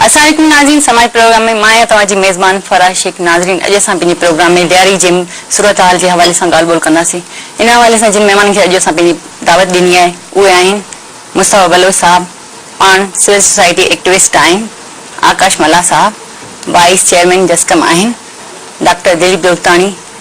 اسلام عليڪم ناظرين سماعي پروگرام ۾ مان آهيان توهان جي ميزبان فرح شيخ ناظرين اڄ اسان پنهنجي پروگرام ۾ ڏياري جي صورتحال جي حوالي سان ڳالهه ٻولهه ڪنداسين ان حوالي سان جن مهمانن کي اڄ اسان پنهنجي دعوت ڏني آهي اهي آهن مصطفيٰ بلوچ صاحب پاڻ سول سوسائٽي ايڪٽوسٽ آهن آڪاش ملاح صاحب وائيس چيئرمين جسقم آهن ڊاڪٽر دليپ دولتاڻي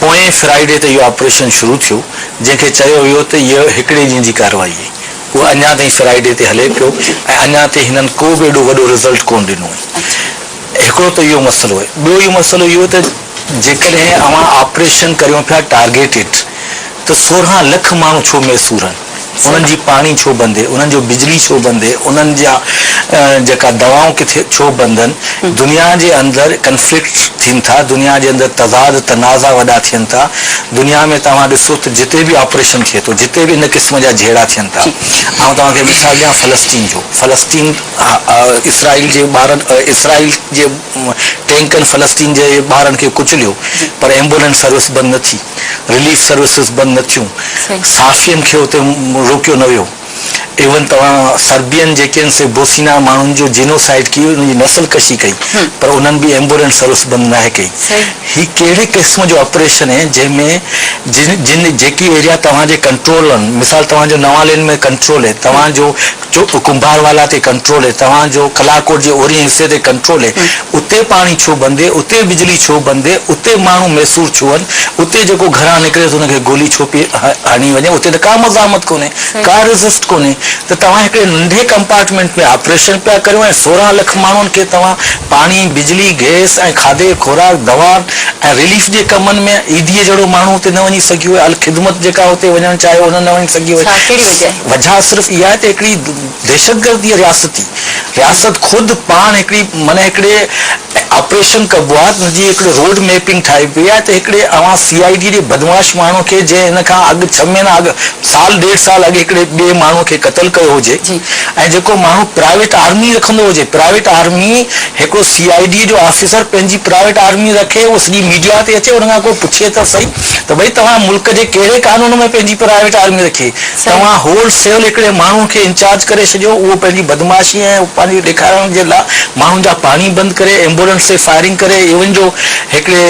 پوئين فرائيڊي تي اهو آپريشن شروع ٿيو، جنهن کي چيو ويو ته هيء هڪڙي ڏينهن جي ڪارروائي هئي. اهو اڃا تائين فرائيڊي تي هلي پيو ۽ اڃا تائين هنن ڪو به ايڏو وڏو رزلٽ ڪونه ڏنو آهي. هڪڙو ته اهو مسئلو آهي. ٻيو اهو مسئلو اهو ته جيڪڏهن اوهان آپريشن ڪريون پيا ٽارگيٽيڊ ته سورهن لک ماڻهو ڇو ميسور هن؟ انهن جي پاڻي ڇو بندي، انهن جو بجلي ڇو بندي، انهن جا جيڪا دوائون ڪٿي ڇو بندن. دنيا جي اندر ڪنفلڪٽ ٿين ٿا، دنيا جي اندر تضاد تنازعا وڏا ٿين ٿا، دنيا ۾ توهان ڏسو ته جتي به آپريشن ٿئي ٿو، جتي به ان قسم جا جهيڙا ٿين ٿا. آئون توهان کي مثال ڏيان فلسطين جو، فلسطين اسرائيل جي ٻارن اسرائيل جي ٽينڪن فلسطين جي ٻارن کي ڪچليو پر ايمبولينس سروس بند نه ٿي. رليف سروسز بند نه ٿيون، صحافين کي اتي روڪيو نه ويو، ايون توهان سربين جيڪي آهن سي بوسنيا ماڻهن جو جينوسائيڊ ڪيو، انهن جي نسل ڪشي ڪئي پر انهن به ايمبولينس سروس بند ناهي ڪئي. هي ڪهڙي قسم جو آپريشن آهي جنهن ۾ جن جن جيڪي ايريا توهان جي ڪنٽرول آهن، مثال توهان جو نوان لين ۾ ڪنٽرول آهي، توهان جو چپ ڪنڀار والا تي ڪنٽرول هي توهان جو ڪلاڪوٽ جي اورهين حصي تي ڪنٽرول هي اتي پاڻي ڇو بند هي اتي بجلي ڇو بند هي اتي ماڻهو ميسور ڇو هن اتي جيڪو گهران نڪري ته ان کي گولي ڇو پئي هڻي وڃي اتي ته ڪا مزاحمت ڪونهي ڪا ريزسٽ ڪونهي ته توهان هڪڙي ننڍي ڪمپارٽمينٽ ۾ آپريشن پيا ڪريو ۽ سورهن لک ماڻهن کي توهان پاڻي بجلي گئس ۽ کاڌي خوراڪ دوائن ۽ رليف جي ڪمن ۾ ايڌي جهڙو ماڻهو اتي نه وڃي سگهيو هي الخدمت جيڪا اتي وڃڻ چاهيو هو نه وڃي سگهيو هي ڇا ڪهڙي وجهه وجهه صرف اها آهي ته هڪڙي دهشتگردي رياستي رياست خود پاڻ هڪڙي معني هڪڙي آپريشن ڪبو آهي ان جي هڪڙي روڊ ميپنگ ٺاهي پئي آهي ته هڪڙي اوهان سي آء ڊي جي بدمعاش ماڻهو کي جنهن ان کان اڳ ڇهه مهينا اڳ سال ڏيڍ سال اڳ هڪڙي ٻئي ماڻهو کي قتل ڪيو هجي ۽ جيڪو ماڻهو پرائيويٽ آرمي رکندو هجي پرائيويٽ آرمي هڪڙو سي آء ڊي جو آفيسر پنهنجي پرائيويٽ آرمي رکي اهو سڄي ميڊيا تي اچي ان کان ڪو پڇي ته سهي ته ڀئي توهان ملڪ جي ڪهڙي قانون ۾ پنهنجي پرائيويٽ آرمي رکي؟ توهان هول سيل هڪڙي ماڻهو کي انچارج ڪري ڇڏيو، اهو پنهنجي بدمعاشي ۽ پنهنجي ڏيکارڻ جي لا ماڻهن جا پاڻي بند ڪري، ايمبولينس تي فائرنگ ڪري، ايون جو هڪڙي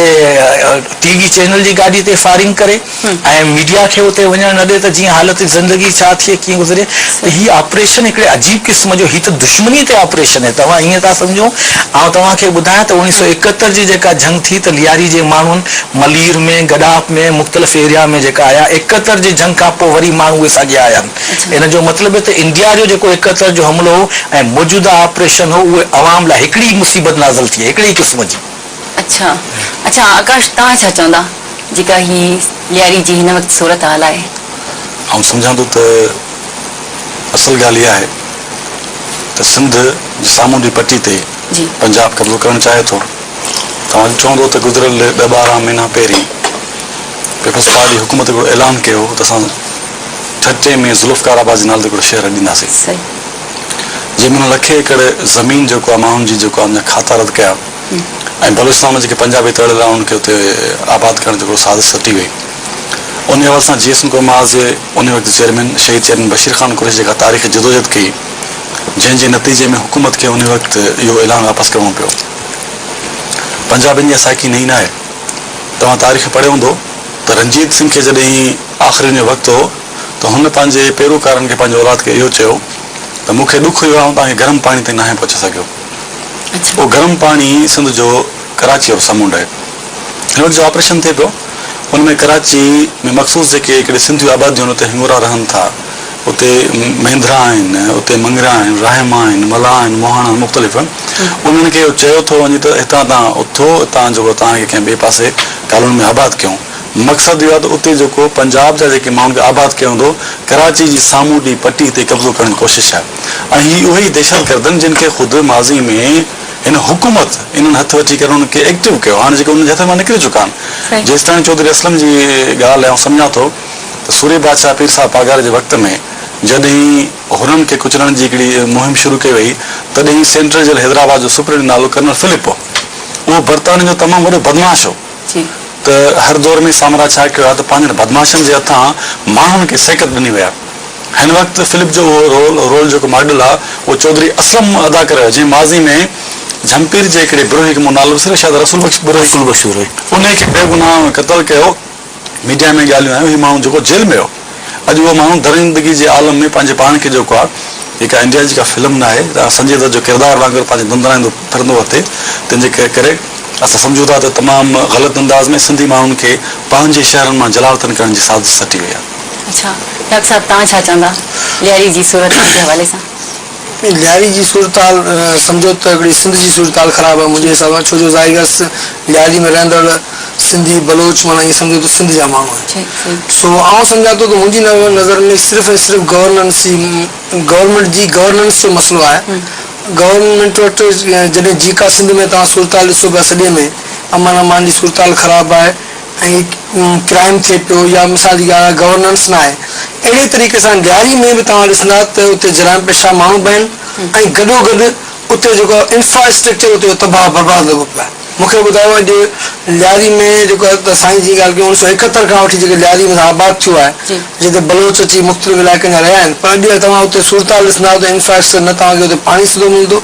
ٽي وي چينل جي گاڏي تي فائرنگ ڪري ۽ ميڊيا کي اتي وڃڻ نه ڏي ته جيئن حالت زندگي ڇا ٿئي ڪيئن گذري ته هي آپريشن هڪڙي عجيب قسم جو هي ته دشمني تي آپريشن هي توهان ائين ٿا سمجهو آئون توهان کي ٻڌايان ته اوڻيهه سؤ ايڪهتر جي جيڪا جنگ ٿي ته لياري جي ماڻهن ملير ۾ گڏاپ ۾ مختلف ايريا ۾ جيڪا آيا ايڪهتر جي جنگ کان پوء وري ماڻهو اهي ساڳيا آيا آهن ان جو مطلب هي ته انڊيا جو جيڪو ايڪهتر جو حملو هو ۽ موجوده آپريشن هو اهي عوام لاء هڪڙي ئي مصيبت نازل ٿي هڪڙي ئي قسم جي. اڇا اڇا آڪاش توهان ڇا چوندا جيڪا هي لياري جي هن وقت صورت حال آهي. آئون سمجهان ٿو ته اصل ڳالهه اها آهي ته سنڌ جي سامونڊي پٽي تي پنجاب قبضو ڪرڻ چاهي ٿو. توهان چوندو ته گذريل ڏهه ٻارهن مهينا پهرين پيپلز پارٽي حڪومت هڪڙو اعلان ڪيو هو ته اسان ٺٽي ۾ ذوالفقار آباد جي نالي تي هڪڙو شهر ڏينداسين جنهن ۾ انهن لکين ايڪڙ زمين جيڪو آهي ماڻهن جي جيڪو آهي ان جا کاتا رد ڪيا ۽ بلوچستان ۾ جيڪي پنجابي تڙيل آهن انهن کي اتي آباد ڪرڻ جي هڪڙو سازش سٽي وئي ان حوالي سان جي ايس اين قوم آز جي ان وقت چيئرمين شهيد چيئرمين بشير خان قريشي جيڪا تاريخي جدوجهد ڪئي جنهن جي نتيجي ۾ حڪومت کي ان وقت اهو اعلان واپس ڪرڻو پيو پنجابين جي سائڪي نئين ناهي. توهان تاريخ پڙهيو هوندو ته رنجيت سنگهه کي جڏهن هي آخرين جو وقت هو ته هن پنهنجي پيروڪارن کي پنهنجي اولاد کي اهو چيو ته مون کي ڏک اهو آهي آئون توهان کي گرم پاڻي تائين ناهي پهچي سگهيو. اهو گرم پاڻي سنڌ جو ڪراچيء جو سمنڊ آهي. هن وقت جو آپريشن ٿئي پيو ان ۾ ڪراچي ۾ مخصوص جيڪي هڪڙي سنڌيون آباديون آهن اتي هڱورا رهن ٿا. اتي مهندرا آهن، اتي مڱرا آهن، راهما آهن، ملاح آهن، موهاڻا آهن، مختلف آهن. انهن کي اهو چيو ٿو وڃي ته هتان توهان اٿو، اتان جيڪو توهان کي ڪنهن ٻئي پاسي ڪالوني ۾ آباد ڪيون. مقصد اهو آهي ته اتي جيڪو پنجاب جا جيڪي ماڻهن کي آباد ڪيو ويندو، ڪراچي جي سامونڊي پٽي تي قبضو ڪرڻ جي ڪوشش آهي ۽ هي اهي ئي دهشتگردن جن کي خود ماضي ۾ هن حڪومت انهن هٿ وٺي ڪري انهن کي ايڪٽو ڪيو هاڻي جيڪي انهن جي هٿن مان نڪري چڪا آهن. جيستائين چوڌري اسلم جي ڳالهه آئون سمجهان ٿو. ته سوري بادشاهه پير صاحب پاڳاري جي وقت ۾ جڏهن هرن کي ڪچلڻ جي هڪڙي مهم شروع ڪئي وئي تڏهن سينٽرل جيل حيدرآباد جو سپرنٽنڊنٽ نالو ڪرنل فلپ هو. اهو برطانين جو تمام وڏو بدمعاش هو ته هر دور ۾ سامراج ڇا ڪيو آهي ته پنهنجن بدمعاشن جي هٿان ماڻهن کي سيڪت ڏني وئي آهي. هن وقت فلپ جو اهو رول جيڪو ماڊل آهي اهو چوڌري اسلم ادا ڪري رهيو آهي جنهن ماضي ۾ جهمپير جي هڪڙي بروهي کي مون نالو وسريو شايد رسول بخش بروهي انهي کي بيگناهه قتل ڪيو. ميڊيا ۾ ڳالهيون آيون هي ماڻهو جيڪو جيل ۾ هو اڄ اهو ماڻهو درندگي جي عالم ۾ پنهنجي پاڻ کي جيڪو آ هي ڪا انڊيا جي ڪا فلم نه آهي تان سنجي دت جو ڪردار وانگر پنهنجي ڌنڌرائيندو ڦرندو اٿئي تنهن جي ڪري اسان سمجهون ٿا ته تمام غلط انداز ۾ سنڌي ماڻهن کي پنهنجي شهرن مان جلاوطن ڪرڻ جي سازش سٽي وئي آ. اڇا ڊاڪٽر صاحب توهان ڇا چوندا لياري جي صورتحال جي حوالي سان؟ لياري جي صورتحال سمجهو ته هڪڙي سنڌ جي صورتحال خراب آهي منهنجي حساب سان ڇو جو زائيگس لياري ۾ رهندڙ سنڌي بلوچ معنيٰ ائين سمجهو ته سنڌ جا ماڻهو آهن سو آئون سمجهان ٿو ته منهنجي نظر ۾ صرف ۽ صرف گورننس ئي گورنمينٽ جي گورننس جو مسئلو آهي گورنمينٽ وٽ جڏهن جيڪا سنڌ ۾ توهان صورتحال ڏسو پيا سڄي ۾ امن امان جي صورتحال خراب آهي ۽ ڪرائيم ٿئي پيو يا مثال جي ڳالهه آهي گورننس ناهي اهڙي طريقي سان ڏياري ۾ به توهان ڏسندا ته اتي جرائم پيشه ماڻهو به آهن ۽ گڏو گڏ اتي جيڪو انفراسٽرڪچر اتي جو تباهه برباد لڳو پيو آهي مونکي ٻڌايو اڄ ڏياري ۾ جيڪو ته سائين جي ڳالهه ڪيون اڻ سو ايڪهتر کان وٺي جيڪي ڏياري ۾ آباد ٿيو آهي جتي بلوچ اچي مختلف علائقن جا رهيا آهن پر اڄ توهان اتي صورتحال ڏسندا ته انفراسٽرڪچر نه توهان کي اتي پاڻي سڌو ملندو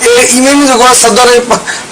اهي اي ميمون جيڪو آهي صدر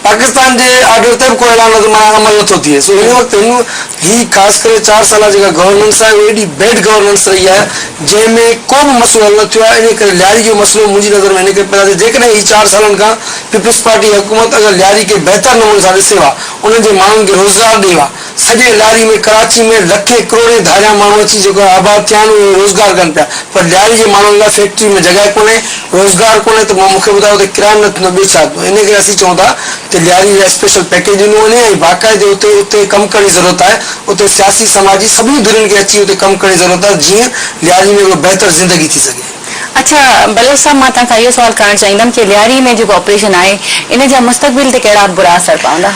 پاڪستان جي آرڊر تي به ڪو اعلان نظر ماڻي عمل نه ٿو ٿئي سو هن وقت هن هي خاص ڪري چار سالا جيڪا گورننس آهي اهو ايڏي بيڊ گورننس رهي آهي جنهن ۾ ڪو به مسئلو حل نه ٿيو آهي انهي ڪري لياري جو مسئلو منهنجي نظر ۾ هن ڪري پيدا ٿيو جيڪڏهن هي چار سالن کان پيپلز پارٽي حڪومت اگر لياري کي بهتر نموني سان ڏسي ها انهن جي ماڻهن کي روزگار ڏي ها سڄي لاري ۾ ڪراچي ۾ لکين ڪروڙين ڌاريان ماڻهو اچي جيڪو آباد ٿيا آهن اهي روزگار ڪن پيا پر ڏياري جي ماڻهن لاء فيڪٽري ۾ جڳهه ڪونهي روزگار ڪونهي ته مون کي ٻڌايو اتي ڪرائم نه ٿيندو ٻيو ڇا ٿيندو ان ڪري اسين چئون ٿا ته ڏياري لاء اسپيشل پيڪيج ڏنو وڃي ۽ باقاعدي اتي اتي ڪم ڪرڻ جي ضرورت آهي اتي سياسي سماجي سڀني ڌرين کي اچي اتي ڪم ڪرڻ جي ضرورت آهي جيئن ڏياري ۾ ڪو بهتر زندگي ٿي سگهي. اڇا بلوچ صاحب مان توهان کان اهو سوال ڪرڻ چاهيندم ڪي لياري ۾ جيڪو آپريشن آهي ان جا مستقبل تي ڪهڙا برا اثر پوندا؟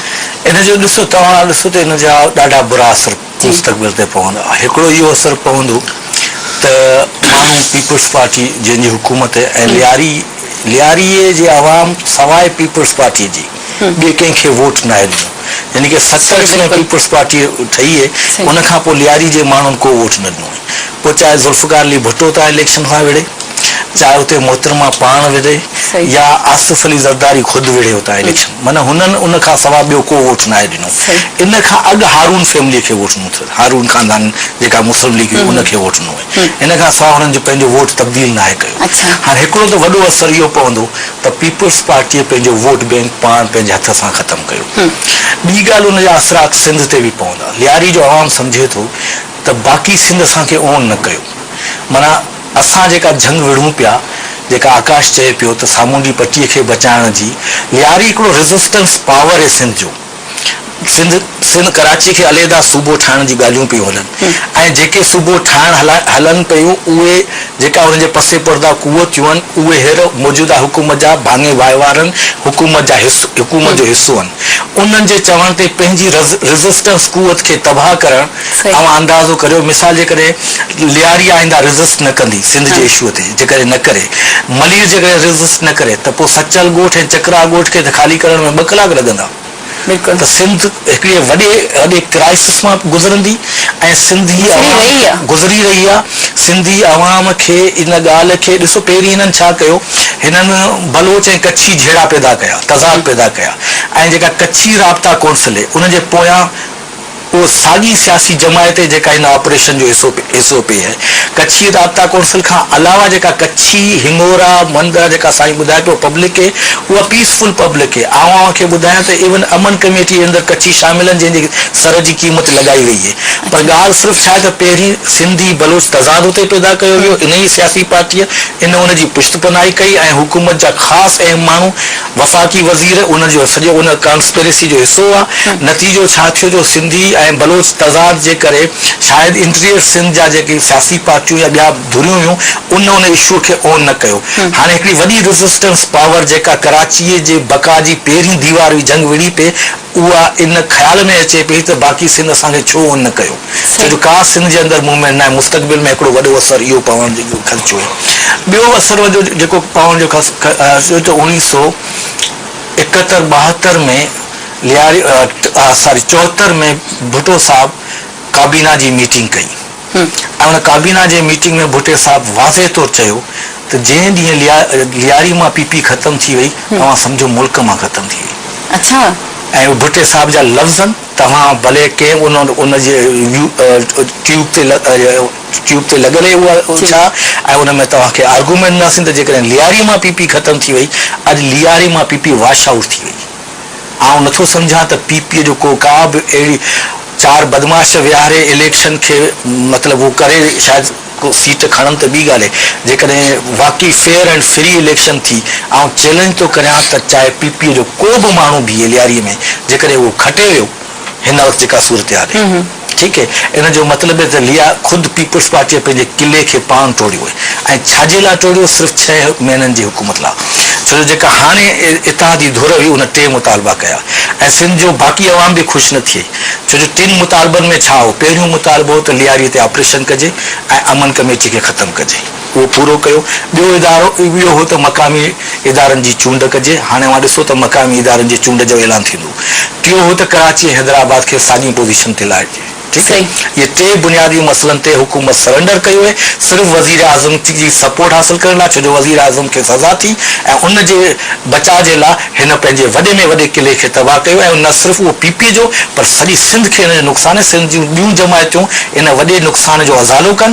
ان جو ڏسو توهان ڏسو ته ان جا ڏاڍا برا اثر مستقبل تي پوندا هڪڙو اهو اثر پوندو ته ماڻهو پيپلز پارٽي جنهن جي حڪومت ۽ لياري لياري جي عوام سواء پيپلز پارٽي جي ٻئي ڪنهن کي ووٽ ناهي ڏنو يعني ڪه ست لک ۾ پيپلز پارٽي ٺهي هي ان کان پوء لياري جي ماڻهن ڪو ووٽ نه ڏنو پوء چاهي ذوالفقار علي ڀٽو تان اليڪشن کان وڙهي چاهي اتي محترمه پاڻ وڙهي يا آصف علي زرداري خود وڙهي اتان اليڪشن معنيٰ هنن ان کان سواء ٻيو ڪو ووٽ ناهي ڏنو ان کان اڳ هارون فيملي کي ووٽ ڏنو اٿس هارون خاندان جيڪا مسلم ليگ هئي ان کي ووٽ ڏنو هئي. ان کان سواء هنن جو پنهنجو ووٽ تبديل ناهي ڪيو. هاڻ هڪڙو ته وڏو اثر اهو پوندو ته پيپلز پارٽيء پنهنجو ووٽ بينڪ پاڻ پنهنجي هٿ سان ختم ڪيو. ٻي ڳالهه ان جا اثرات سنڌ تي به پوندا. لياري جو عوام سمجهي ٿو ته باقي سنڌ اسان کي اون نه ڪيو. معنيٰ اسان جيڪا جهنگ وڙهون پيا، جيڪا آڪاش چئي پيو ته سامونڊي پٽيء کي بچائڻ جي، لياري هڪڙو ريزسٽنس پاور اي سنڌ جو. سنڌ سنڌ ڪراچي کي عليحده صوبو ٺاهڻ جون ڳالهيون پيون هلن ۽ جيڪي صوبو ٺاهڻ هلا هلن پيون اهي جيڪا انهن جي پس پرده قوتيون هن اهي هير موجوده حڪومت جا ڀاڱي وهنوارن حڪومت جا حڪومت جو حصو هن انهن جي چوڻ تي پنهنجي رز رزسٽنس قوت کي تباهه ڪرڻ اوهان اندازو ڪريو مثال جيڪڏهن لياري آئنده رزسٽ نه ڪندي سنڌ جي اشوء تي جيڪڏهن نه ڪري ملير جيڪڏهن رزسٽ نه ڪري ته پوء سچل ڳوٺ ۽ چڪراها ڳوٺ کي ته خالي ڪرڻ ۾ ٻه ڪلاڪ لڳندا ته سنڌ هڪڙي وڏي وڏي ڪرائسس مان گذرندي ۽ سنڌي عوام گذري رهي آهي سنڌي عوام کي ان ڳالهه کي ڏسو پهرين هنن ڇا ڪيو هنن بلوچ ۽ ڪڇي جهيڙا پيدا ڪيا تضاد پيدا ڪيا ۽ جيڪا ڪڇي رابطا ڪونسل هي ان جي پويان اهو ساڳي سياسي جماعت هي جيڪا هن آپريشن جو حصو پئي هي. ڪڇي رابطا ڪونسل کان علاوه جيڪا ڪڇي، هڱورا، مندرا جيڪا سائين ٻڌائي پيو پبلڪ هي اها پيس فل پبلڪ هي. آئون اوهان کي ٻڌايان ته ايون امن ڪميٽي اندر ڪڇي شامل آهن جنهن جي سر جي قيمت لڳائي وئي هي. پر ڳالهه صرف ڇا هي ته پهرين سنڌي بلوچ تضاد اتي پيدا ڪيو ويو انهيء سياسي پارٽيء ان ان جي پشت پناهي ڪئي ۽ حڪومت جا خاص اهم ماڻهو وفاقي وزير ان جو سڄو ان ڪانسپيريسي جو حصو هئا، نتيجو ڇا ٿيو جو سنڌي ۽ بلوچ تضاد جي ڪري شايد انٽيريئر سنڌ جا جيڪي سياسي پارٽيون يا ٻيا ڌريون هيون ان ان اشوء کي اون نه ڪيو هاڻي هڪڙي وڏي ريزسٽنس پاور جيڪا ڪراچيء جي بقا جي پهرين ديوار هئي جنگ وڙهي پئي اها ان خيال ۾ اچي پئي ته باقي سنڌ اسان کي ڇو اونهن نه ڪيو؟ ڇو جو ڪا سنڌ جي اندر موومينٽ ناهي. مستقبل ۾ هڪڙو وڏو اثر اهو پوڻ جو خدشو هو. ٻيو اثر وڏو جيڪو پوڻ جو خدشو ته اوڻيهه سؤ ايڪهتر ٻاهتر ۾ لياري ساري چوهتر ۾ ڀٽو صاحب ڪابينا جي ميٽنگ ڪئي. ۽ ان ڪابينا جي ميٽنگ ۾ ڀٽي صاحب واضح طور چيو ته جنهن ڏينهن لياري مان پي پي ختم ٿي وئي توهان سمجهو ملڪ مان ختم ٿي وئي. ۽ اهي ڀٽي صاحب جا لفظن توهان ڀلي ڪنهن ان جي ٽيوب تي ٽيوب تي لڳل هي اها ڇا ۽ ان ۾ توهان کي آرگومينٽ ڏناسين ته جيڪڏهن لياري مان پي پي ختم ٿي وئي اڄ لياري مان پي پي واشائوٽ ٿي وئي. آئون نٿو سمجهان ته پي پي جو ڪو ڪا به اهڙي چار بدمعاش ويهاري اليڪشن کي مطلب هو ڪري شايد ڪو سيٽ کڻن ته ٻي ڳالهه هي جيڪڏهن واقعي فيئر اينڊ فري اليڪشن ٿي آئون چئلينج ٿو ڪريان ته چاهي پي پي جو ڪو به ماڻهو بيهي لياري ۾ جيڪڏهن اهو کٽي ويو هن وقت جيڪا صورتحال هي. ٺيڪ هي ان جو مطلب هي ته ليا خود پيپلز پارٽيء پنهنجي قلعي کي پاڻ ٽوڙيو هي ۽ ڇاجي لاء ٽوڙيو سرف ڇهه مهينن جي حڪومت لاء ڇو جو جيڪا هاڻي اتحادي ڌر هئي ان ٽي مطالبا ڪيا ۽ سنڌ جو باقي عوام به خوش نه ٿئي ڇو جو ٽن مطالبن ۾ ڇا هو پهريون مطالبو هو ته لياري تي آپريشن ڪجي ۽ امن ڪميٽي کي ختم ڪجي. اهو پورو ڪيو. ٻيو ادارو اهو هو ته مقامي ادارن جي چونڊ ڪجي. هاڻي اوهان ڏسو ته مقامي ادارن جي چونڊ جو اعلان ٿيندو. ٽيون هو ته ڪراچي ۽ حيدرآباد کي ساڳين پوزيشن تي لاهجي. ٺيڪ آهي. اهي ٽي بنيادي مسئلن تي حڪومت سرينڊر ڪئي هئي صرف وزيراعظم جي سپورٽ حاصل ڪرڻ لاء ڇو جو وزيراعظم کي سزا ٿي ۽ ان جي بچاء جي لاء هن پنهنجي وڏي ۾ وڏي قلعي کي تباهه ڪيو ۽ نه صرف اهو پي پي جو پر سڄي سنڌ کي ان جو نقصان ۽ سنڌ جون ٻيون جماعتون ان وڏي نقصان جو ازالو ڪن.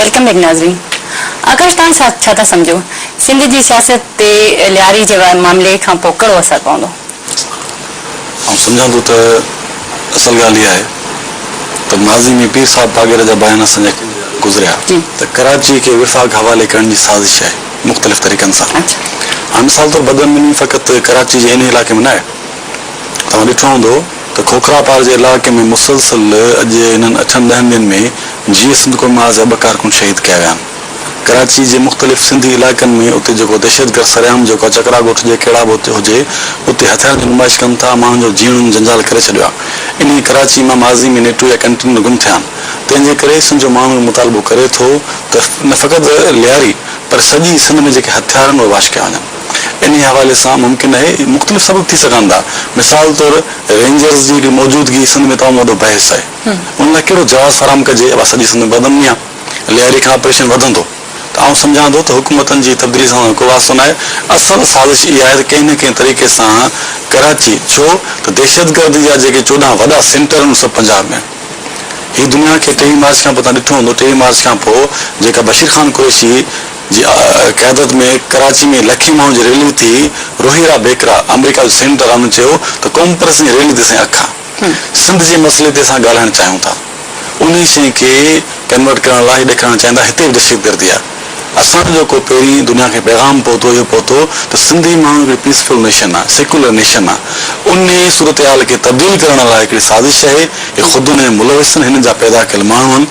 ويلڪم بيڪ ناظرين آڪاش توهان ڇا ٿا سمجهو سنڌ جي سياست تي لياري جي معاملي کان پوء ڪهڙو اثر پوندو؟ آئون سمجهان ٿو ته اصل ڳالهه اها آهي ته ماضي ۾ پير صاحب پاڳيري جا بيان اسان جا گذريا ته ڪراچي کي وفاق حوالي ڪرڻ جي سازش آهي مختلف طريقن سان هاڻ مثال طور بدعنواني فقط ڪراچي جي هن علائقي ۾ نه آهي توهان ڏٺو هوندو ته کوکرا پار جي علائقي ۾ مسلسل اڄ انهن اٺن ڏهن ڏينهن ۾ جيئي سنڌ قومي آز جا ٻه ڪارڪن شهيد ڪيا ويا آهن. ڪراچي جي مختلف سنڌي علائقن ۾ اتي جيڪو دهشتگرد سرعام جيڪو آ چڪرا ڳوٺ جي ڪهڙا به اتي هجي اتي هٿيارن جي نمائش ڪن ٿا ماڻهن جو جيئڻن جنجال ڪري ڇڏيو آ انهي ڪراچي مان ماضي ۾ نيٽو يا ڪنٽينر گم ٿيا آهن تنهن جي ڪري سنڌ جو ماڻهو اهو مطالبو ڪري ٿو ته نه فقط لياري پر سڄي سنڌ ۾ جيڪي هٿيارن اهي واش ڪيا وڃن. انهيء حوالي سان ممڪن اهي مختلف سبب ٿي سگهن ٿا. مثال طور رينجرز جي هڪڙي موجودگي سنڌ ۾ تمام وڏو بحث آهي. ان لاء ڪهڙو جواز فراهم ڪجي؟ اها سڄي سنڌ ۾ بدامني آهي. لياري کان آپريشن وڌندو ته آئون سمجهان ٿو ته حڪومتن جي تبديلي سان سندن ڪو واسطو ناهي. اصل سازش اها آهي ته ڪنهن نه ڪنهن طريقي سان ڪراچي ڇو ته دهشتگردي جا جيڪي چوڏهن وڏا سينٽر ان سڀ پنجاب ۾ آهن. هي دنيا کي ٽيهين مارچ کان پوء توهان ڏٺو هوندو ٽيهين مارچ کان پوء جيڪا بشير خان قريشي جي قيادت ۾ ڪراچي ۾ لکين ماڻهن جي ريلي ٿي، روهيرا بيڪرا آمريڪا جو سينيٽر آمرن چيو ته قومپرستن جي ريلي تي اسين اک سنڌ جي مسئلي تي اسان ڳالهائڻ چاهيون ٿا انهي شئي کي ڪنورٽ ڪرڻ لاء اهي ڏيکارڻ چاهين ٿا هتي به دهشتگردي آهي اسان جو ڪو پهرين دنيا کي پيغام پهتو اهو پهتو ته سنڌي ماڻهو هڪڙي پيسفل نيشن آهي سيڪولر نيشن آهي انهي صورتحال کي تبديل ڪرڻ لاء هڪڙي سازش آهي هي خود انهن ملوثن هنن جا پيدا ڪيل ماڻهو آهن.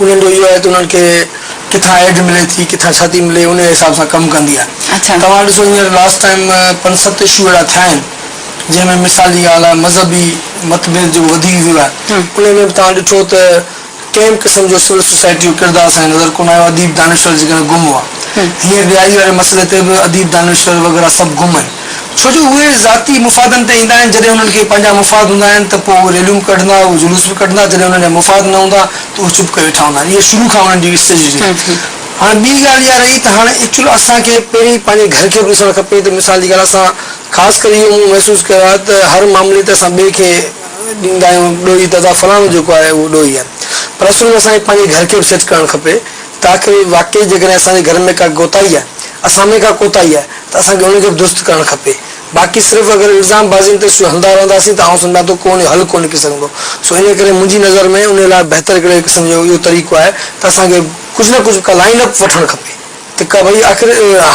انهن جو اهو آهي ته انهن کي ڪٿان ايڊ ملي ٿي ڪٿان ڇا ٿي ملي انهي حساب سان ڪم ڪندي آهي توهان ڏسو هينئر لاسٽ ٽائيم پنج ست اشو اهڙا ٿيا آهن جنهن ۾ مثال جي ڳالهه آهي مذهبي متڀيد جيڪو وڌي ويو آهي انهي ۾ به توهان ڏٺو ته ڪنهن به قسم جو سول سوسائٽي جو ڪردار اسان کي نظر ڪونه آيو اديب دانشور جيڪڏهن گم هئا هينئر رهائشي واري مسئلي تي به اديب دانشور وغيره سڀ گم آهن ڇو جو اهي ذاتي مفادن تي ايندا آهن، جڏهن انهن کي پنهنجا مفاد هوندا آهن ته پوء اهي ريليون به ڪڍندا، اهي جلوس به ڪڍندا، جڏهن انهن جا مفاد نه هوندا ته اهي چپ ڪري ويٺا هوندا آهن. اها شروع کان انهن جي اسٽريٽجي هئي. هاڻ ٻي ڳالهه اها رهي ته هاڻ ايڪچوئل اسان کي پهرين پنهنجي گهر کي به ڏسڻ کپي ته مثال جي ڳالهه اسان خاص ڪري اهو مون محسوس ڪيو آهي ته هر معاملي تي اسان ٻئي کي ڏيندا آهيون ڏوهي ته ادا فلاڻو جيڪو آهي اهو ڏوهي آهي پر اصل ۾ اسان کي پنهنجي گهر کي به سيٽ ڪرڻ کپي ته آخر واقعي جيڪڏهن اسان جي گهر ۾ ڪا ڪوتاهي آهي، اسان ۾ ڪا ڪوتاهي آهي ته اسان کي ان کي به درست ڪرڻ کپي. باقي صرف اگر الزام بازين تي سو هلندا رهنداسين ته آئون سمجهان ٿو ڪو ان جو حل ڪو نڪري سگهندو. سو انهيء ڪري منهنجي نظر ۾ انهيء لاء بهتر هڪڙي قسم جو اهو طريقو آهي ته اسان کي ڪجهه نه ڪجهه ڪا لائن اپ وٺڻ کپي ته ڪا ڀئي آخر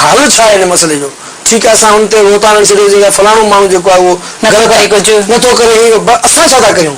حل ڇا آهي ان مسئلي جو. ٺيڪ آهي اسان هن تي روتان هڻي ڇڏيوسين ته فلاڻو ماڻهو جيڪو آهي اهو غلط آهي، نٿو ڪري هي، پر اسان ڇا ٿا ڪريون؟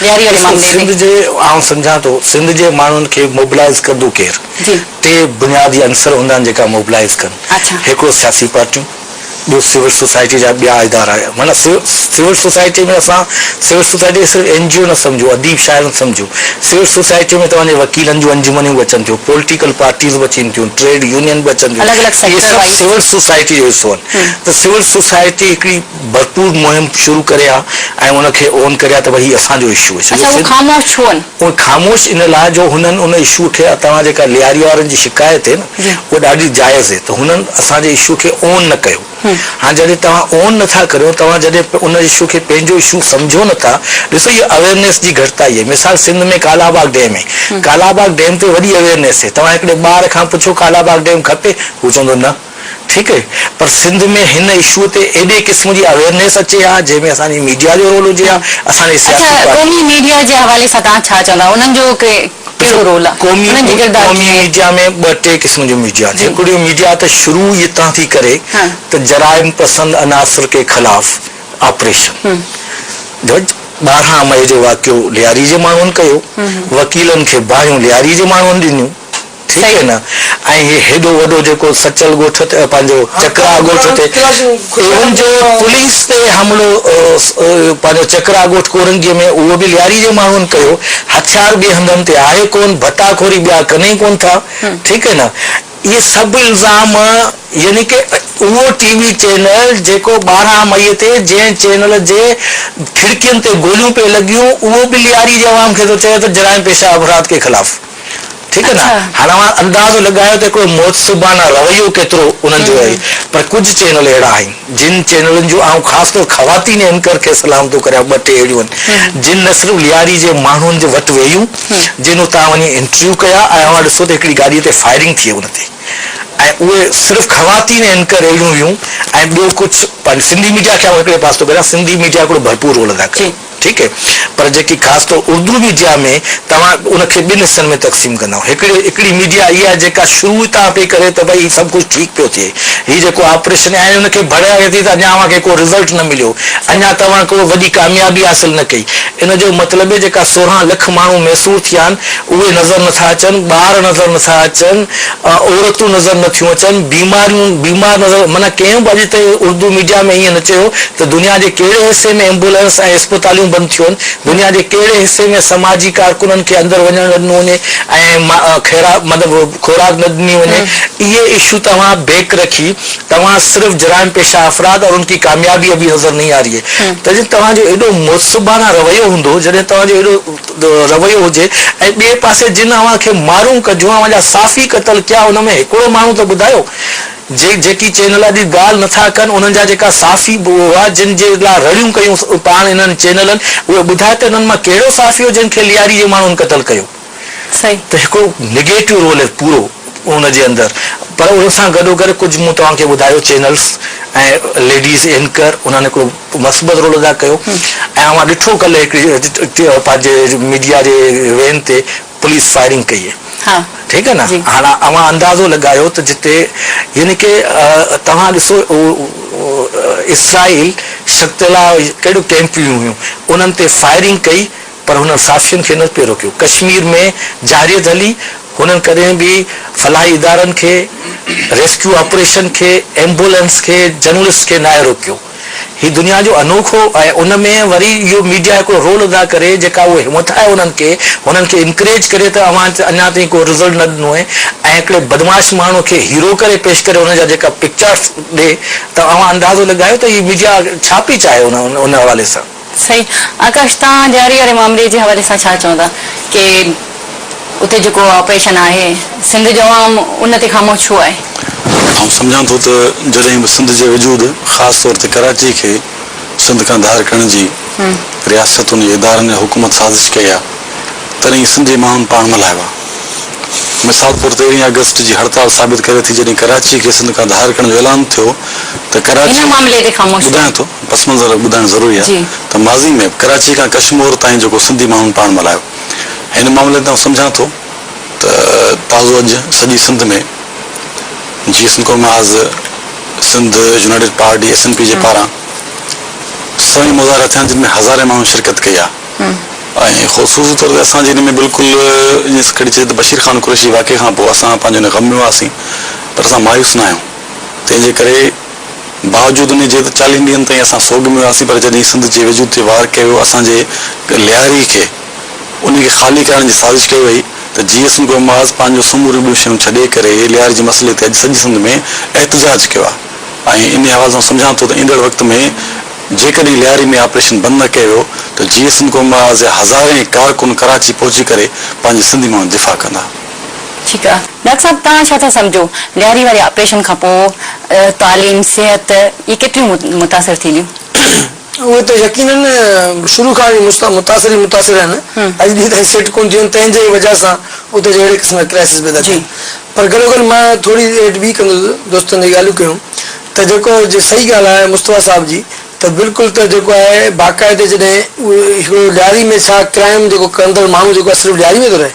ڏياري واري معاملي ۾. سنڌ جي آئون سمجهان ٿو سنڌ جي ماڻهن کي موبلائيز ڪندو ڪير؟ ٽي بنيادي عنصر هوندا آهن جيڪا موبلائيز ڪن. هڪڙو سياسي پارٽيون، ٻيو سول سوسائٽي جا ٻيا ادارا معنيٰ سول سوسائٽي ۾ اسان سول سوسائٽي کي صرف اين جي او نه سمجهون اديب شاعر نه سمجهون سول سوسائٽي ۾ توهان جي وڪيلن جون انجمنيون به اچن ٿيون پوليٽيڪل پارٽيز به اچين ٿيون ٽريڊ يونين به اچن ٿيون اهي سڀ سول سوسائٽي جو حصو آهن ته سول سوسائٽي هڪڙي ڀرپور مهم شروع ڪري ها ۽ ان کي اون ڪري ها ته ڀئي هي اسان جو اشو آهي. اڇا هو خاموش ڇو آهن؟ هو خاموش ان لاء جو هنن ان اشو کي توهان جيڪا لياري وارن جي شڪايت هي نه اها ڏاڍي جائز هي ته هنن اسان جي اشو کي اون نه ڪيو هاڻ جڏهن توهان اون نه ٿا ڪريو توهان جڏهن ان اشو کي پنهنجو اشو سمجهو نه ٿا ڏسو هي اويرنيس جي گهٽتائي هي مثال سنڌ ۾ ڪالا باغ ڊيم هي ڪالا باغ ڊيم تي وڏي اويرنيس هي توهان هڪڙي ٻار کان پڇو ڪالا باغ ڊيم کپي هو چوندو نه. ٺيڪ اهي پر سنڌ ۾ هن اشو تي ايڏي قسم جي اويرنيس اچي ها جنهن ۾ اسان جي ميڊيا جو رول هجي ها اسان جي سياسي پارٽين. اڇا قومي ميڊيا جي حوالي سان توهان ڇا چوندا انهن جو ڪهڙو رول آهي انهن جي ڪردار ڪيئن آهي؟ قومي ميڊيا ۾ ٻه ٽي قسم جون ميڊيا آهن هڪڙيون ميڊيا ته شروع ئي اتان ٿي ڪري ته جرائم پسند عناصر ڪي خلاف آپريشن جج ٻارهن مئي جو واقعو لياري جي ماڻهن ڪيو وڪيلن کي باهيون لياري جي ماڻهن ڏنيون ٺيڪ اهي نه ۽ هي هيڏو وڏو جيڪو سچل ڳوٺ تي پنهنجو چڪرا ڳوٺ تي ايون جو پوليس تي حملو پنهنجو چڪرا ڳوٺ ڪورنگي ۾ اهو به لياري جي ماڻهن ڪيو هٿيار ٻي هنڌن تي آهي ڪون ڀٽا خوري ٻيا ڪن ئي ڪون ٿا ٺيڪ اهي نه اهي سڀ الزام يعني ڪي اهو ٽي وي چينل جيڪو ٻارهن مئي تي جنهن چينل جي کڙڪين تي گوليون پئي لڳيون اهو به لياري جي عوام کي ٿو چئي ته جرائم پيشه افراد ڪي خلاف ٺيڪ آهي نه هاڻي اوهان اندازو لڳايو ته هڪڙو مؤدبانه رويو ڪيترو انهن جو رهي پر ڪجهه چينل اهڙا آهن جن چينلن جو آئون خاص طور خواتين اينڪر کي سلام ٿو ڪريان ٻه ٽي اهڙيون آهن جن نه صرف لياري جي ماڻهن جي وٽ ويون جن اتان وڃي انٽرويو ڪيا ۽ اوهان ڏسو ته هڪڙي گاڏي تي فائرنگ ٿئي ان تي ۽ اهي صرف خواتين اينڪر اهڙيون هيون ۽ ٻيو ڪجهه پنهنجي سنڌي ميڊيا کي آئون هڪڙي پاسو ٿو ڪريان سنڌي ميڊيا هڪڙو ڀرپور رول ادا ڪيو ٺيڪ اهي پر جيڪي خاص طور اردو ميڊيا ۾ توهان ان کي ٻن حصن ۾ تقسيم ڪندائون هڪڙي هڪڙي ميڊيا اهي آهي جيڪا شروع تان پئي ڪري ته بھي هي سڀ ڪجھ ٺيڪ پيو ٿئي هي جيڪو آپريشن يا ان کي ڀڙ آهي ٿي ته اڃا اوهان کي ڪو رزلٽ نه مليو اڃا توهان ڪو وڏي ڪاميابي حاصل نه ڪئي ان جو مطلب اهي جيڪا سورهن لک ماڻهو ميسور ٿيا آهن اهي نظر نٿا اچن ٻار نظر نٿا اچن عورتون نظر نه ٿيون اچن، بيماريون، بيمار نظر، معنيٰ ڪنهن به اڄ تائين اردو ميڊيا ۾ ائين نه چيو ته دنيا جي ڪهڙي حصي ۾ ايمبولينس ۽ اسپتاليون بند ٿيون، دنيا جي ڪهڙي حصي ۾ سماجي ڪارڪنن کي اندر وڃڻ نه ڏنو وڃي ۽ خيرا مطلب خوراڪ نه ڏني وڃي، اهي اشو توهان بيڪ رکي توهان صرف جرائم پيشه افراد اور ان ڪي ڪاميابي ابهي نظر نهي آ رهي هي، تجي توهان جو ايڏو معصبانه رويو هوندو جڏهن توهان جو ايڏو رويو هجي ۽ ٻئي پاسي جن اوهان کي مارون ڪجون اوهان جا صافي قتل ڪيا ان ۾ هڪڙو ماڻهو ته ٻڌايو جي جيڪي چينل اڄ ڳالهه نٿا ڪن انهن جا جيڪا صافي به هئا جن جي لا رڙيون ڪيون پاڻ انهن چينلن اهي ٻڌايو ته انهن مان ڪهڙو صافي هو جنهن کي لياري جي ماڻهن قتل ڪيو صحيح ته هڪڙو نيگيٽو رول پورو ان جي اندر پر ان سان گڏو گڏ ڪجهه مون توهان کي ٻڌايو چينلس ۽ ليڊيز اينڪر انهن هڪڙو مثبت رول ادا ڪيو ۽ اوهان ڏٺو ڪلهه هڪڙي پنهنجي ميڊيا جي وين تي پوليس فائرنگ ڪئي ٺيڪ آهي نه هاڻ اوهان اندازو لڳايو ته جتي يعني ڪه توهان ڏسو اسرائيل شڪتيلا ڪهڙو ڪيمپيون هيون انهن تي فائرنگ ڪئي پر هنن صحافين کي نه پئي روڪيو ڪشمير ۾ جارحيت هلي هنن ڪڏهن به فلاحي ادارن کي ريسڪيو آپريشن کي ايمبولينس کي جرنلسٽ کي ناهي روڪيو. هي دنيا جو انوکو ۽ ان ۾ وري اهو ميڊيا هڪڙو رول ادا ڪري جيڪا اهو همٿ آهي انهن کي هنن کي انڪريج ڪري ته اوهان اڃا تائين ڪو رزلٽ نه ڏنو آهي ۽ هڪڙي بدمعاش ماڻهو کي هيرو ڪري پيش ڪري انهن جا جيڪا پڪچارس ڏي ته اوهان اندازو لڳايو ته هي ميڊيا ڇا پئي چاهي ان حوالي سان. صحيح آڪاش توهان ڏياري واري معاملي جي حوالي سان ڇا چوندا ڪي اتي جيڪو آپريشن آهي سنڌ جو عوام ان تي خاموش ڇو آهي؟ آئون سمجهان ٿو ته جڏهن به سنڌ جي وجود خاص طور تي ڪراچي کي سنڌ کان ڌار ڪرڻ جي رياستن يا ادارن يا حڪومت سازش ڪئي آهي تڏهن سنڌ جي ماڻهن پاڻ ملهايو آهي. مثال طور تيرهين آگسٽ جي هڙتال ثابت ڪري ٿي جڏهن ڪراچي کي سنڌ کان ڌار ڪرڻ جو اعلان ٿيو ته ڪراچي ٻڌايان ٿو پس منظر ٻڌائڻ ضروري آهي ته ماضي ۾ به ڪراچي کان ڪشمور تائين جيڪو سنڌي ماڻهن پاڻ ملهايو هن معاملي تي آئون سمجهان ٿو ته تازو اڄ سڄي سنڌ ۾ جي Sindh Qaumi Mahaz Sindh United Party S N P جي پاران سوين مظاهرا ٿيا جن ۾ هزارين ماڻهن شرڪت ڪئي آهي. ۽ خصوصي طور تي اسان جي ان ۾ بلڪل ائين ٿي کڻي چئجي ته بشير خان قريشي واقعي کان پوء اسان پنهنجو ان غم ۾ هئاسين پر اسان مايوس نه آهيون تنهن جي ڪري باوجود ان جي ته چاليهن ڏينهن تائين اسان سوڳ ۾ هئاسين پر جڏهن سنڌ جي وجود تي وار ڪيو ويو اسان جي لياري کي ان کي خالي ڪرائڻ جي سازش ڪئي وئي ته جي ايس نڪو معاذ پنهنجو سموريون ٻيون شيون ڇڏي ڪري لياري جي مسئلي تي اڄ سڄي سنڌ ۾ احتجاج ڪيو آهي ۽ انهي حوالي سان سمجهان ٿو ته ايندڙ وقت ۾ جيڪڏهن لياري ۾ آپريشن بند نه ڪيو ويو ته جي سنڌ قوم راز جا هزارين ڪارڪن ڪراچي پهچي ڪري پنهنجي سنڌي ماڻهن جو دفاع ڪندا. ٺيڪ آ ڊاڪٽر صاحب توهان ڇا ٿا سمجهو لياري واري آپريشن کان پوء تعليم صحت اهي ڪيتريون متاثر ٿينديون؟ اهي ته يقينن شروع کان ئي متاثر ئي متاثر آهن اڄ ڏينهن تائين سيٽ ڪونه ٿيون آهن تنهن جي وجه سان اتي جي اهڙي قسم جا ڪرائسز پيدا ٿيا آهن پر گڏوگڏ مان ٿوري ايڊ ٻي ڪندس دوستن جي ڳالهيون ڪيون ته جيڪو جي صحيح ڳالهه آهي مصطفيٰ صاحب جي ته بلڪل ته جيڪو آهي باقاعدي جڏهن هڪڙو ڏياري ۾ ڇا ڪرائيم جيڪو ڪندڙ ماڻهو جيڪو آهي صرف ڏياري ۾ ٿو رهي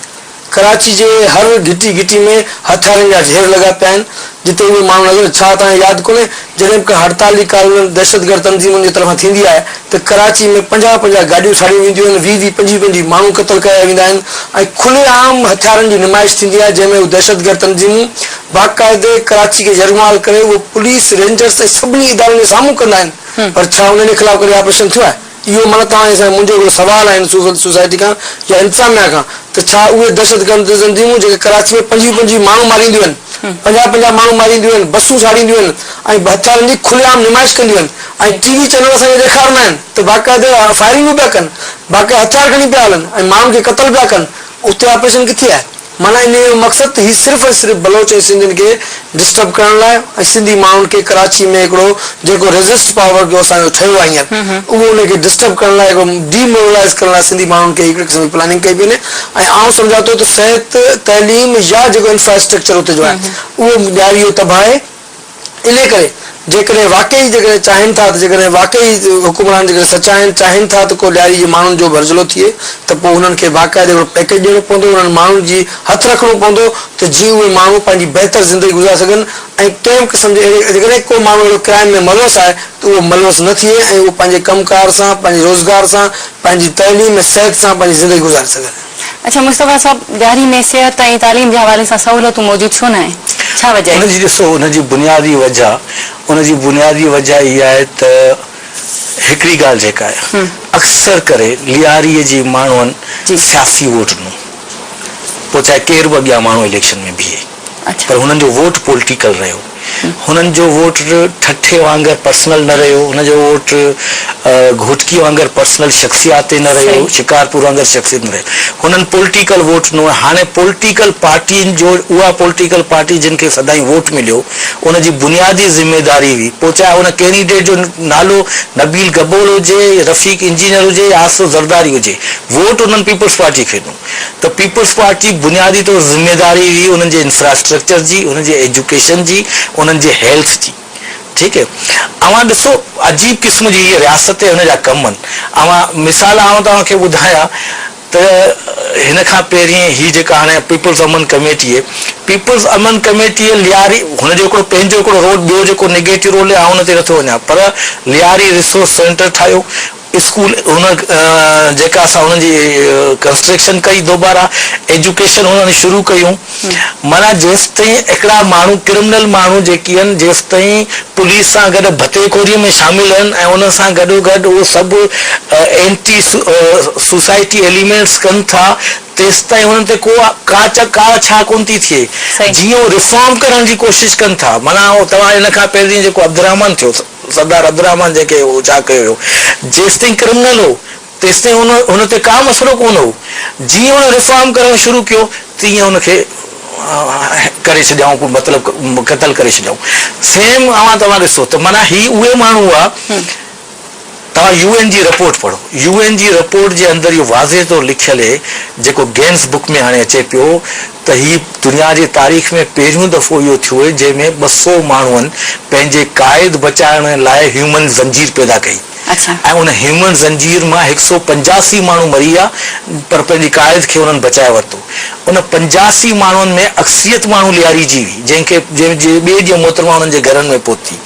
ڪراچي جي هر گهٽي گهٽي ۾ هٿيارن جا ڍير لڳا پيا آهن جتي اهي ماڻهو نظر ڇا توهان کي ياد ڪونهي جڏهن به ڪا هڙتالي ڪارروائي دهشتگرد تنظيمن جي طرفان ٿيندي آهي ته ڪراچي ۾ پنجاهه پنجاهه گاڏيون ساڙيون وينديون آهن ويهه ويهه پنجويهه پنجويهه ماڻهو قتل ڪيا ويندا آهن ۽ کلي عام هٿيارن جي نمائش ٿيندي آهي جنهن ۾ هو دهشتگرد تنظيمون باقاعدي ڪراچي کي يرغمال ڪري اهو پوليس، رينجرز ۽ سڀني ادارن جي سامهون ڪندا آهن پر ڇا انهن جي خلاف ڪڏهن آپريشن ٿيو آهي؟ اهو معنيٰ توهان جي سان منهنجو هڪڙو سوال آهي هن سول سوسائٽي کان يا انتظاميا کان ته ڇا اهي دهشتگرد تنظيمون جيڪي ڪراچي ۾ پنجويهه پنجويهه ماڻهو مارينديون آهن، پنجاهه پنجاهه ماڻهو مارينديون آهن، بسون ساڙينديون آهن ۽ هٿيارن جي کلي عام نمائش ڪنديون آهن ۽ ٽي وي چينل اسان کي ڏيکارندا آهن ته باقاعدي فائرنگون پيا ڪن، باقاعدي هٿيار کڻي پيا هلن ۽ ماڻهن کي قتل پيا ڪن، اتي آپريشن ڪٿي آهي؟ معنيٰ انهيء جو مقصد ته هي صرف ۽ صرف بلوچ ۽ سنڌين کي ڊسٽرب ڪرڻ لاء ۽ سنڌي ماڻهن کي ڪراچي ۾ هڪڙو جيڪو ريزسٽ پاور جو اسان جو ٺهيو آهي هينئر اهو انهي کي ڊسٽرب ڪرڻ لاء هڪڙو ڊي مورلائيز ڪرڻ لاء سنڌي ماڻهن کي هڪڙي قسم جي پلاننگ ڪئي پئي وڃي ۽ آئون سمجهان ٿو ته صحت تعليم يا جيڪو انفراسٽرڪچر اتي جو آهي اهو ڏياري جو تباهي انهيء ڪري جيڪڏهن واقعي جيڪڏهن چاهين ٿا ته جيڪڏهن واقعي حڪمران جيڪڏهن سچائين چاهين ٿا ته ڪو ڏياري جي ماڻهن جو ڀرجهلو ٿئي ته پوء انهن کي باقاعده هڪڙو پيڪيج ڏيڻو پوندو انهن ماڻهن جي هٿ رکڻو پوندو ته جيئن اهي ماڻهو پنهنجي بهتر زندگي گذاري سگهن ۽ ڪنهن به قسم جي اهڙي جيڪڏهن ڪو ماڻهو اهڙو ڪرائيم ۾ ملوث آهي ته اهو ملوث نه ٿئي ۽ اهو پنهنجي ڪم ڪار سان پنهنجي روزگار سان پنهنجي تعليم ۽ صحت سان پنهنجي زندگي گذاري سگهن. اڇا مصطفيٰ صاحب ڏياري ۾ صحت ۽ تعليم جي حوالي سان سهولتون موجود ڇو ناهن ڇا وجه آهي؟ ان جي ڏسو ان جي بنيادي وجه ان جي بنيادي وجه اها آهي ته هڪڙي ڳالهه جيڪا آهي اڪثر ڪري لياري جي ماڻهن سياسي ووٽ ڏنو پوء چاهي ڪير به اڳيان ماڻهو اليڪشن ۾ بيهي. پر هنن جو ووٽ پولٽيڪل رهيو. هنن جو ووٽ ٺٽي وانگر پرسنل نه رهيو. هنن جو ووٽ گهوٽڪي وانگر پرسنل شخصياتي نه رهيو. شڪارپور وانگر شخصيت نه رهيو. هنن پولٽيڪل ووٽ ڏنو ۽ هاڻي پولٽيڪل پارٽين جو اها پولٽيڪل پارٽي جن کي سدائين ووٽ مليو ان جي بنيادي ذميداري هئي پوء چاهي ان ڪينڊيڊيٽ جو نالو نبيل گبول هجي، رفيق انجنيئر هجي يا آصف زرداري هجي ووٽ انهن پيپلز پارٽي کي ڏنو. ته پيپلز پارٽي بنيادي طور ذميواري هئي انهن جي انفراسٽرڪچر جي، انهن جي ايجوڪيشن جي، انهن جي هيلٿ جي. ٺيڪ اوهان ڏسو عجيب قسم جي هيء رياست ۽ ان جا ڪم آهن. اوهان مثال آئون توهان کي ٻڌايا ته هن کان پهرين هي جيڪا هاڻي پيپلز امن ڪميٽي اهي پيپلز امن ڪميٽي لياري هن جو هڪڙو پنهنجو هڪڙو رول ٻيو جيڪو نيگيٽو رول آهي آئون ان تي نٿو وڃان پر لياري ريسورس سينٽر ٺاهيو، اسڪول هن جيڪا اسان هن جي ڪنسٽريڪشن ڪئي دوبارا ايجوڪيشن هنن شروع ڪيون معنيٰ جيستائين هڪڙا ماڻهو ڪرمنل ماڻهو جيڪي هن جيستائين پوليس سان گڏ ڀتي خوري ۾ شامل هن ۽ ان سان گڏو گڏ اهو سڀ اينٽي سوسائٽي ايليمينٽس ڪن ٿا تيستائين هنن تي ڪو ڪا چا ڪا ڇا ڪون ٿي ٿئي جيئن هو ريفارم ڪرڻ جي ڪوشش ڪن ٿا معنيٰ توهان ان کان پهرين جيڪو عبدالرحمان ٿيو سردار عبدالرحمان جنهن کي اهو جا ڪيو ويو، جيستائين ڪرمنل هو، تيستائين هن هن تي ڪا مسئلو ڪونه هو. جيئن هن ريفارم ڪرڻ شروع ڪيو، تيئن هن کي ڪري ڇڏيائون ڪو مطلب قتل ڪري ڇڏيائون. سيم اوهان توهان ڏسو ته معنيٰ هي اهي ماڻهو هئا، توهان يو اين جي رپورٽ پڙهو. يو اين جي رپورٽ جي اندر اهو واضح طور لکيل هي جيڪو گينس بڪ ۾ هاڻي اچي پيو ته هي دنيا جي تاريخ ۾ پهريون دفعو اهو ٿيو هي جنهن ۾ ٻه سؤ ماڻهن پنهنجي قائد بچائڻ لاء هيومن زنجير پيدا ڪئي ۽ ان هيومن زنجير مان هڪ سؤ پنجاسي ماڻهو مري ويا پر پنهنجي قائد کي انهن بچائي ورتو ان پنجاسي ماڻهن ۾ اڪثريت ماڻهو لياري جي هئي جنهن کي جنهن جي ٻئي ڏينهن محترمه انهن جي گهرن ۾ پهتي.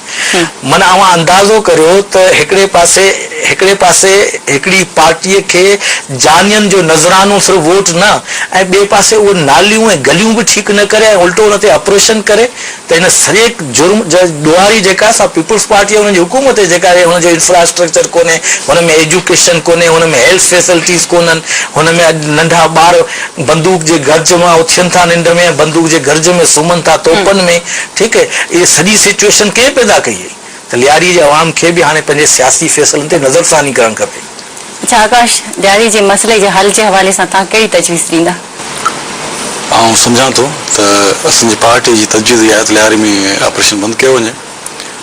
من اوهان اندازو ڪريو ته هڪڙي پاسي هڪڙي پاسي هڪڙي پارٽيء کي جانين جو نذرانو صرف ووٽ نه ۽ ٻئي پاسي اهو ناليون ۽ گليون به ٺيڪ نه ڪري ۽ الٽو ان تي آپريشن ڪري ته هن سڄي جرم جي ڏوهاري جيڪا سا پيپلز پارٽي ۽ ان جي حڪومت آهي جيڪا هي هن جو انفراسٽرڪچر ڪونهي هن ۾ ايجوڪيشن ڪونهي هن ۾ هيلٿ فيسلٽيز ڪونهن هن ۾ اڄ ننڍا ٻار بندوق جي گرج مان اٿين ٿا ننڊ ۾ ۽ بندوق جي گرج ۾ سمهن ٿا توپن ۾ ٺيڪ اهي سڄي سچوئيشن ڪنهن پيدا ڪئي هئي ته لياري جي عوام کي به هاڻي پنهنجي سياسي فيصلن تي نظر ثاني ڪرڻ کپي. اڇا آڪاش، لياري جي مسئلي جي حل جي حوالي سان توهان ڪهڙي تجويز ڏيندا؟ آئون سمجهان ٿو ته اسان جي پارٽي جي تجويز اها آهي ته لياري ۾ آپريشن بند ڪيو وڃي.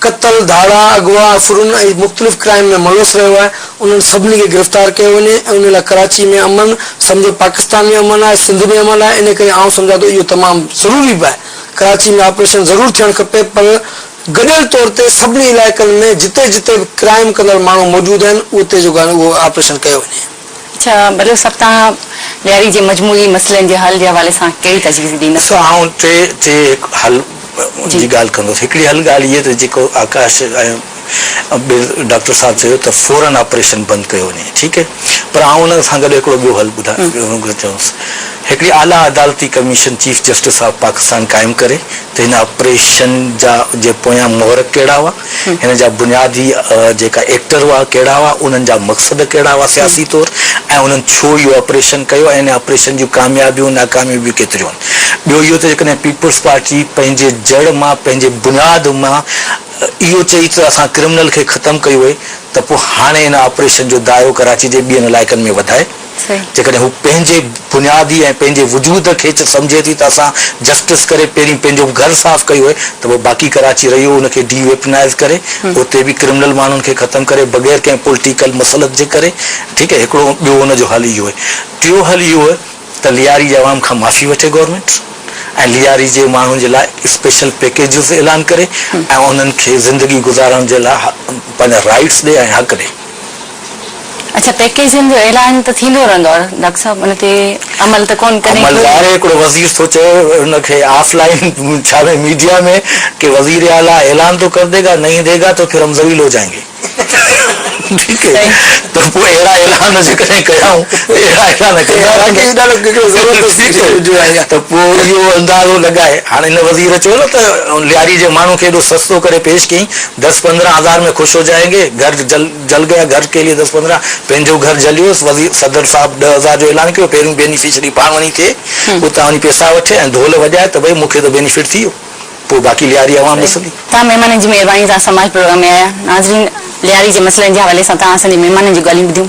قتل، ڌاڙا، اغوا، افرون ۽ مختلف ڪرائم ۾ ملوث رهيو آهي، انهن سڀني کي گرفتار ڪيو وڃي ۽ ان لاء ڪراچي ۾ امن، سمجهه پاڪستان ۾ امن آهي، سنڌ ۾ امن آهي، ان ڪري آئون سمجهان ٿو اهو تمام ضروري به آهي، ڪراچي ۾ آپريشن ضرور ٿيڻ کپي پر گڏيل طور تي سڀني علائقن ۾ جتي جتي به ڪرائم ڪندڙ ماڻهو موجود آهن اتي جو آپريشن ڪيو وڃي. اچا بلوچ صاحب توهان ڏياري جي مجموعي مسئلن جي حل جي حوالي سان ڪهڙي تجويز ڏيندا؟ ڏسو آئون ٽي ٽي هڪ حل جي ڳالهه ڪندس هڪڙي حل ڳالهه هي ته جيڪو آڪاش ۽ ٻير ڊاڪٽر صاحب چيو ته فورن آپريشن بند ڪيو وڃي ٺيڪ هي پر آئون ان سان گڏ هڪڙو ٻيو حل ٻڌائڻ چاهيس هڪڙي اعليٰ عدالتي commission chief justice of Pakistan قائم ڪري ته هن آپريشن جا جي پويان محرڪ ڪهڙا هئا هن جا بنيادي جيڪا ايڪٽر هئا ڪهڙا هئا، انهن جا مقصد ڪهڙا هئا سياسي طور ۽ انهن ڇو اهو آپريشن ڪيو ۽ ان آپريشن جون ڪاميابيون ناڪاميون به ڪيتريون هن. ٻيو اهو ته جيڪڏهن پيپلز پارٽي پنهنجي جڙ مان پنهنجي بنياد مان اهو چئي ته اسان ڪرمنل کي ختم ڪيو هئي ته پوء هاڻي ان آپريشن جو دائرو ڪراچي جي ٻين علائقن ۾ وڌائي جيڪڏهن هو پنهنجي بنيادي ۽ پنهنجي وجود کي چه سمجهي ٿي ته اسان جسٽس ڪري پهرين پنهنجو به گهر صاف ڪيو هئي ته پوء باقي ڪراچي رهي هو ان کي ڊي ويپنائيز ڪري اتي به ڪرمنل ماڻهن کي ختم ڪري بغير ڪنهن پولٽيڪل مصلحت جي ڪري ٺيڪ آهي هڪڙو ٻيو ان جو حل اهو آهي ٽيو حل اهو آهي ته لياري جي عوام کان معافي وٺي گورنمينٽ ۽ لياري جي ماڻهن جي لاء اسپيشل پيڪيجز اعلان ڪري ۽ انهن کي زندگي گذارڻ جي لاء پنهنجا رائيٽس ڏي ۽ حق ڏي. اچا پيڪيجن جو اعلان ته ٿيندو رهندو آهي ڊاڪٽر صاحب ان تي عمل ته ڪون ڪڏهن ڪيو ويندو. عمل ظاهر آهي هڪڙو وزير ٿو چئي ان کي آف لائين ڇا ۾ ميڊيا ۾ ڪي وزير اعليٰ اعلان تو ڪر ديگا نهين ديگا تو پھر هم ذليل هو جائين گي ٺيڪ هي ته پوء اهڙا اعلان جيڪڏهن ڪيائون ته اهڙا اعلان ڪندا رهندا ته پوء اهو اندازو لڳائي هاڻ ان وزير چيو نه ته لياري جي ماڻهو کي ايڏو سستو ڪري پيش ڪيائين دس پندرهن هزار ۾ خوش هو جائين گي، گهر جل جل گيا، گهر ڪي ليي دس پندرهن، پنهنجو گهر جليوس، وزير صدر صاحب ڏهه هزار جو اعلان ڪيو، پهريون بينيفشري پاڻ وڃي ٿئي، اتان وڃي پيسا وٺي ۽ ڍول وڄائي ته ڀئي مون کي ته بينيفٽ ٿي ويو، پوء باقي لياري عوام ڏسندي. توهان مهمانن جي مهرباني سان سماج پروگرام ۾ آيا، ناظرين لياري جي مسئلن جي حوالي سان توهان اسان جي مهمانن جون ڳالهيون ٻڌيون،